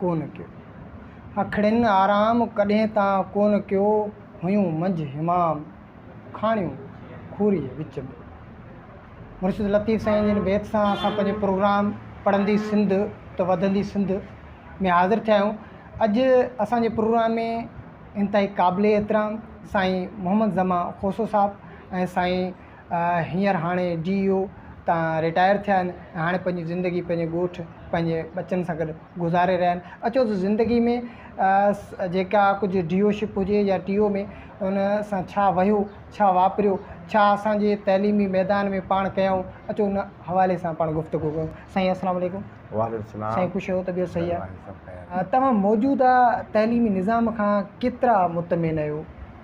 ڪونه ڪيو. اکڙين آرام ڪڏهن تان ڪونه ڪيو هيون منجهه همام کاڻيون کوريء وچ ۾. مرشد لطيف سائين جي ان بيت سان اسان پنهنجو پروگرام پڙهندي سنڌ ته وڌندي سنڌ ۾ حاضر ٿيا آهيون. اڄ اسان جي پروگرام ۾ انتهائي قابل احترام سائين محمد زمان کوسو صاحب ۽ سائين هينئر هاڻي ڊي او تان رٽائر ٿيا آهن ۽ هاڻي پنهنجي زندگي پنهنجي ڳوٺ پنهنجي ٻچن سان گڏ گذاري رهيا آهن اچو ته زندگي ۾ جيڪا ڪجهه ڊي او شپ هجي يا ٽي او ۾ ان سان ڇا وهيو ڇا واپريو ڇا اسانجي تعليمي ميدان ۾ پاڻ ڪيائون اچو ان حوالي سان پاڻ گفتگو ڪيون سائين السلام عليڪم وعليڪم السلام سائين خوش آهيو طبيعت صحيح آهي توهان موجوده تعليمي نظام کان ڪيترا مطمئن آهيو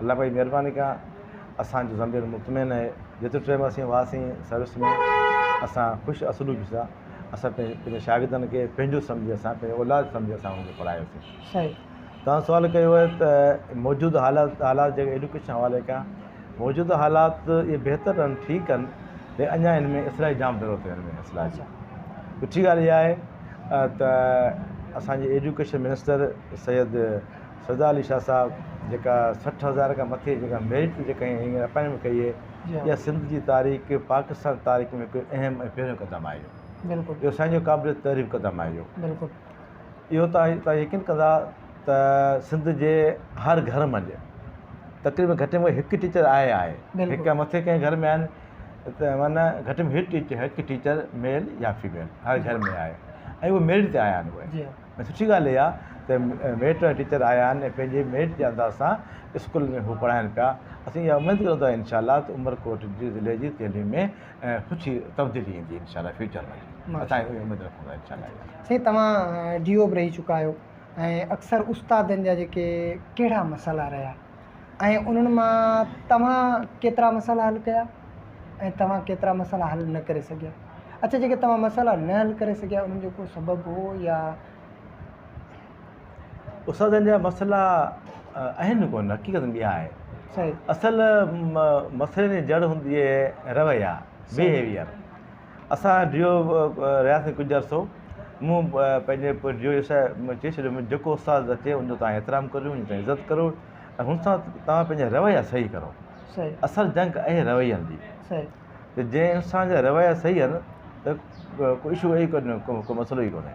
الله پاڪ جي مھرباني کان اسان جو ضمير مطمئن آھي جيترو ٽيم اسين ھئاسين سروس ۾ اسان خوش اسلوبي سان اسان پنھنجي پنھنجي شاگردن کي پنھنجو سمجھي اسان پنھنجو اولاد سمجھي اسان ھنن کي پڙھايوسين صحيح تھان سوال ڪيو آھي ته موجوده حالات حالات جيڪي ايڊوڪيشن حوالي کان موجوده حالات اھي بھتر اھن ٺيڪ اھن ليڪن اڃا ان ۾ اصلاح جي جام ضرورت آھي ان ۾ اصلاح جي سٺي ڳالھ اھا آھي ته اسان جي ايڊوڪيشن منسٽر سيد سزا علي شاهه صاحب جيڪا سٺ هزار کان مٿي جيڪا ميرٽ جيڪا هيئي هيئي اپائنٽمينٽ ڪئي هيئي جي ها اها سنڌ جي تاريخ پاڪستان جي تاريخ ۾ هڪ اهم ۽ پهريون قدم آهي اهو بلڪل اهو سائين جو قابل تعريف قدم آهي اهو بلڪل اهو تائين تائين يقين ڪندا ته سنڌ جي هر گهر منجهه تقريبن گهٽ ۾ هڪ ٽيچر آهي آهي بلڪل. هڪ کان مٿي ڪنهن گهر ۾ آهن ته معنيٰ گهٽ ۾ هڪ ٽيچر هڪ ٽيچر ميل يا فيميل هر گهر ۾ آهي ۽ اهو ميرٽ تي آيا آهن اهي جي ها ۽ سٺي ڳالهه اها ته ميٽ ۽ ٽيچر آيا آهن ۽ پنهنجي ميٽ جي انداز سان اسڪول ۾ هو پڙهائين پيا اسين اها اميد ڪريون ٿا انشاء الله ته عمرڪوٽ جي ضلعي جي تعليم ۾ سٺي تبديلي ايندي انشاء الله فيوچر ۾ اسان اهي اميد رکون ٿا انشاء الله سائين توهان ڊي او به رهي چڪا آهيو ۽ اڪثر استادن جا جيڪي ڪهڙا مسئلا رهيا ۽ انهن مان توهان ڪيترا مسئلا حل ڪيا ۽ توهان ڪيترا مسئلا حل نه ڪري سگهيا اڇا جيڪي توهان مسئلا نه حل ڪري سگهيا انهن جو ڪو سبب هو يا استادن جا مسئلا آهن ڪو نه حقيقت ٻيا آهي صحيح اصل مسئلي جي جڙ هوندي آهي رويا بيهيويئر اسان ڊيو رهياسين ڪجهه عرصو. مون پنهنجي پوء ڊيو يسوع ۾ چئي ڇڏيو، مون جيڪو استاد اچي ان جو توهان احترام ڪريو، ان جي توهان عزت ڪريو ۽ هن سان توهان پنهنجا رويا صحيح ڪرو. اصل جنگ اهي روين جي ته جنهن انسان جا رويا صحيح آهن ته ڪو اشو اهي ڪونهي ڪو مسئلو ئي ڪونهي.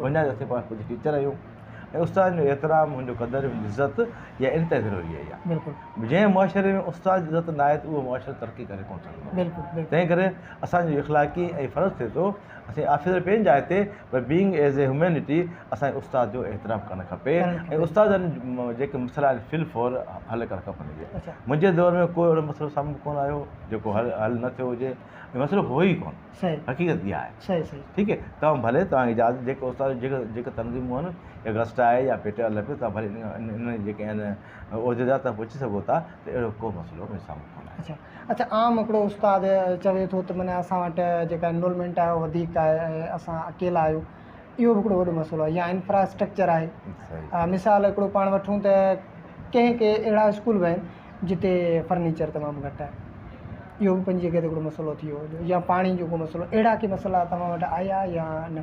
وڃائي رٿي پاڻ پوء جيڪي ٽيچر آهيون ۽ استاد جو احترام هن جو قدر هن جي عزت يا انتهائي ضروري آهي يا بلڪل جنهن معاشري ۾ استاد جي عزت ناهي ته اهو معاشرو ترقي ڪري ڪونه سگهندو بلڪل تنهن ڪري اسانجو اخلاقي ۽ فرض ٿئي ٿو اسين آفيسر پنهنجي جاء تي پر بينگ ايز اي هيومينٽي اسان کي استاد جو احترام ڪرڻ کپي ۽ استاد جيڪي مسئلا آهن فل فور حل ڪرڻ کپن منهنجي دور ۾ ڪو اهڙو مسئلو سامهون ڪونه آيو جيڪو حل حل نه ٿيو هجي مسئلو هو ئي ڪونه صحيح حقيقت اها آهي صحيح صحيح ٺيڪ هي توهان ڀلي توهان کي اجازت جيڪو استاد جيڪو جيڪو تنظيم هئن يا گسٽ آهي يا پي ٽي آر لڳيو توهان ڀلي ان ان ان جيڪي آهن عهديدار تان پڇي سگهو ٿا ته اهڙو ڪو مسئلو مون سامهون ڪونه آيو اچا اچا عام هڪڙو استاد چوي ٿو ته معنيٰ اسان وٽ جيڪا انرولمينٽ آهي اها وڌيڪ آهي ۽ اسان اڪيلا آهيون اهو به هڪڙو وڏو مسئلو آهي يا انفراسٽرڪچر آهي مثال هڪڙو پاڻ وٺون ته ڪنهن ڪي اهڙا اسڪول به آهن جتي فرنيچر تمام گهٽ آهي اهو به پنهنجي جڳهه تي مسئلو ٿي ويو هجي يا پاڻي جو ڪو مسئلو اهڙا ڪي مسئلا توهان وٽ آيا يا نه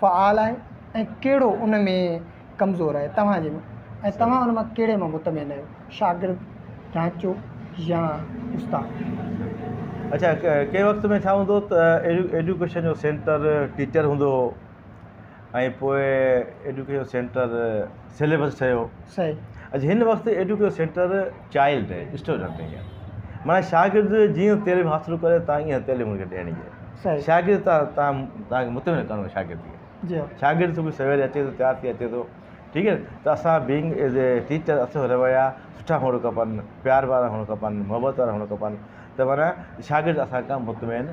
فعال آهي ۽ ڪهڙو ان ۾ ڪمزور آهي توهان جي ۽ توهان ان مان ڪهڙي مان مطمئن آهيو شاگرد ڍانچو يا استاد اڇا ڪنهن وقت ۾ ڇا هوندو ته ايڊوڪيشن جو سينٽر ٽيچر هوندو هو ۽ پوء ايڊوڪيشن سينٽر سيليبس ٺهيو صحيح هن وقت ايڊوڪيشن سينٽر چائلڊ اسٽوڊنٽ ٺهي ويا معنيٰ شاگرد جيئن تعليم حاصل ڪري تان ايئن تعليم هن کي ڏيڻي صحيح شاگرد تان تان تان کي مطمئن ڪرڻو شاگرد کي جي شاگرد صبح سوير اچي ٿو تيار ٿي اچي ٿو ٺيڪ آهي ته اسان بينگ ايز اي ٽيچر اسان رويا سٺا هئڻ کپن پيار وارا هئڻ کپن محبت وارا هئڻ کپن ته معنيٰ شاگرد اسان کان مطمئن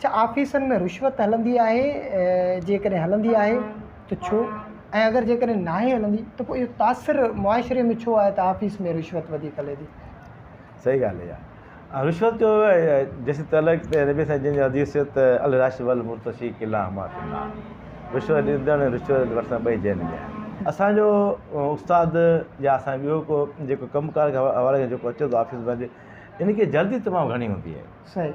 ڇا آفيسن ۾ رشوت هلندي آهي؟ جيڪڏهن هلندي آهي ته ڇو؟ ۽ اگر جيڪڏهن ناهي هلندي ته پوء اهو تاثر معاشري ۾ ڇو آهي ته آفيس ۾ رشوت وڌيڪ هلي ٿي؟ صحيح ڳالهه اها آهي رشوت جو جيسين تعلق ته نبي سائين جن جي حديث ته الراشي والمرتشي ڪلاهما في النار رشوت ڏيندڙ ۽ رشوت وٺندڙ ٻئي جهنم ۾ آهن. اسان جو استاد يا اسان جو ٻيو ڪو جيڪو ڪم ڪار جي حوالي کان جيڪو اچي ٿو آفيس مان ان کي جلدي تمام گهڻي هوندي آهي. صحيح.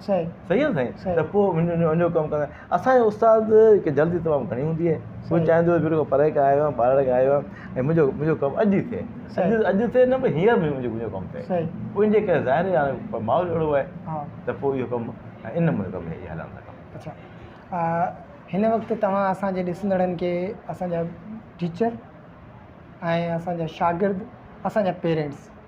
صحيح آ سائين ته پوء انجو ڪم ڪندائين اسان جي استاد کي جلدي تمام گهڻي هوندي آهي هو چاهيندو آهي بلڪل پري کان آيو آهيان ٻارڙي کان آيو آهيان ۽ منهنجو ڪم اڄ ئي ٿئي اڄ ٿئي نه پر هينئر منهنجو ڪم ٿئي پوء انجي ڪري ظاهر آهي هاڻي ماحول اهڙو آهي ته پوء اهو ڪم ان نموني ڪم هليا هليا ٿا ڪم اڇا هن وقت توهان اسانجي ڏسندڙن کي اسانجا ٽيچر ۽ اسانجا شاگرد اسانجا پيرنٽس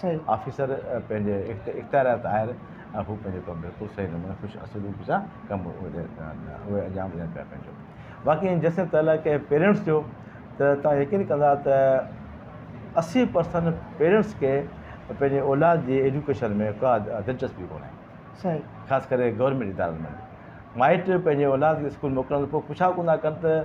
صحيح. آفيسر پنهنجي اختياريات آهر ۽ هو پنهنجي طور بلڪل صحيح نموني خوش اسلوبي سان ڪم اهي انجام ڏين پيا پنهنجو باقي ۽ جيسين تعلق ڪنهن پيرينٽس جو ته توهان يقين ڪندا ته اسي پرسنٽ پيرينٽس کي پنهنجي اولاد جي ايجوڪيشن ۾ ڪا دلچسپي ڪونهي صحيح خاص ڪري گورنمينٽ ادارن ۾ مائٽ پنهنجي اولاد کي اسڪول موڪلڻ پوء پڇا ڪوندا ڪن ته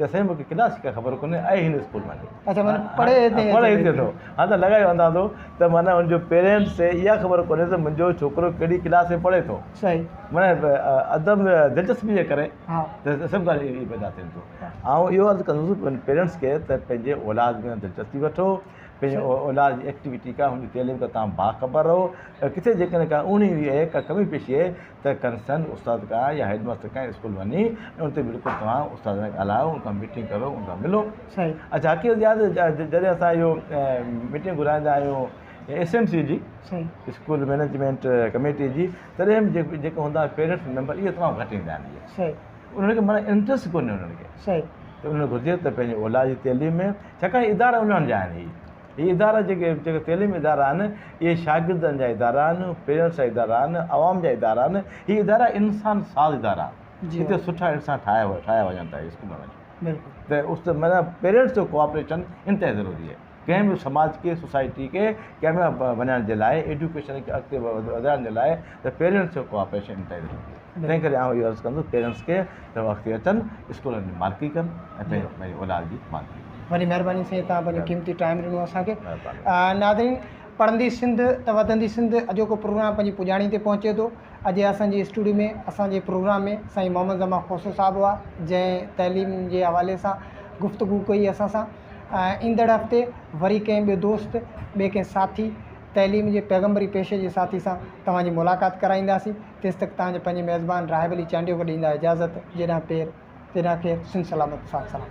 چيسين مون کي ڪيڏا سڪا خبر ڪونهي اهي هن اسڪول مان ڏي اچھا معنيٰ پڙهي هتي اچي پڙهي هتي ٿو ها ته لڳايو اندازو ته معنيٰ هن جو پيرينٽس کي اها خبر ڪونهي ته منهنجو ڇوڪرو ڪهڙي ڪلاس ۾ پڙهي ٿو صحيح معنيٰ عدم دلچسپي جي ڪري ها ته سڀ ڳالهيون اهي پيدا ٿين ٿيون آئون اهو عرض ڪندس پنهنجي پيرينٽس کي ته پنهنجي اولاد ۾ دلچسپي وٺو پنهنجي اولاد جي ايڪٽيوٽي ڪا هن جي تعليم کان تمام باخبر رهو ۽ ڪٿي جيڪڏهن ڪا اوڻي هئي ڪا ڪمي پيشي ته ڪنسرن استاد کا يا هيڊ ماستر کان اسڪول وڃي ۽ ان تي بالڪل توهان استاد سان ڳالهايو ان کان ميٽنگ ڪرو ان کان ملو صحيح اچھا حقيقت جا جڏهن اسان اهو ميٽنگ گهرائيندا آهيون ايس ايم سي جي اسڪول مينيجمنٽ ڪميٽي جي تڏهن به جيڪو هوندا آهن پيرنٽس ميمبر اهي تمام گهٽ ايندا آهن صحيح انهن کي مانا انٽرسٽ ڪونهي انهن کي صحيح انهن کي گهرجي ته پنهنجي اولاد جي تعليم ۾ ڇاڪاڻ ادارا انهن جا آهن هي هي ادارا جيڪي جيڪي تعليمي ادارا آهن اهي شاگردن جا ادارا آهن پيرنٽس جا ادارا آهن عوام جا ادارا آهن هي ادارا انسان ساز ادارا آهن جي هتي سٺا انسان ٺاهيا ٺاهيا وڃن ٿا اسڪول ۾ وڃي بلڪل ته اس ته معنيٰ پيرنٽس جو ڪوآپريشن انتهائي ضروري آهي ڪنهن به سماج کي سوسائٽي کي ڪامياب بنائڻ جي لاء ايڊوڪيشن کي اڳتي وڌائڻ جي لاء ته پيرنٽس جو ڪوآپريشن انتهائي ضروري آهي تنهن ڪري آئون اهو عرض ڪندس پيرنٽس کي ته هو اڳتي اچن اسڪولن جي مالڪي ڪن ۽ جي پنهنجي پنهنجي اولاد جي مالڪي ڪن وڏي مهرباني سائين تهان پنهنجو قيمتي ٽائيم ڏنو اسان کي مهرباني آ ناظرين پڙهندي سنڌ ته وڌندي سنڌ اڄوڪو پروگرام پنهنجي پڄاڻي تي پهچي ٿو اڄ اسان جي اسٽوڊيو ۾ اسان جي پروگرام ۾ سائين محمد زمان کوسو صاحب هئا جنهن تعليم جي حوالي سان گفتگو ڪئي اسان سان ايندڙ هفتي وري ڪنهن ٻي دوست ٻي ڪنهن ساٿي تعليم جي پيغمبري پيشي جي ساٿي سان توهان جي ملاقات ڪرائينداسين تيستڪ تان جي پنهنجي ميزبان راهب علي چانڊيو کي ڏيندا اجازت جيڏانهن پير تيڏانهن خير سنڌ سلامت ساٿ سلام.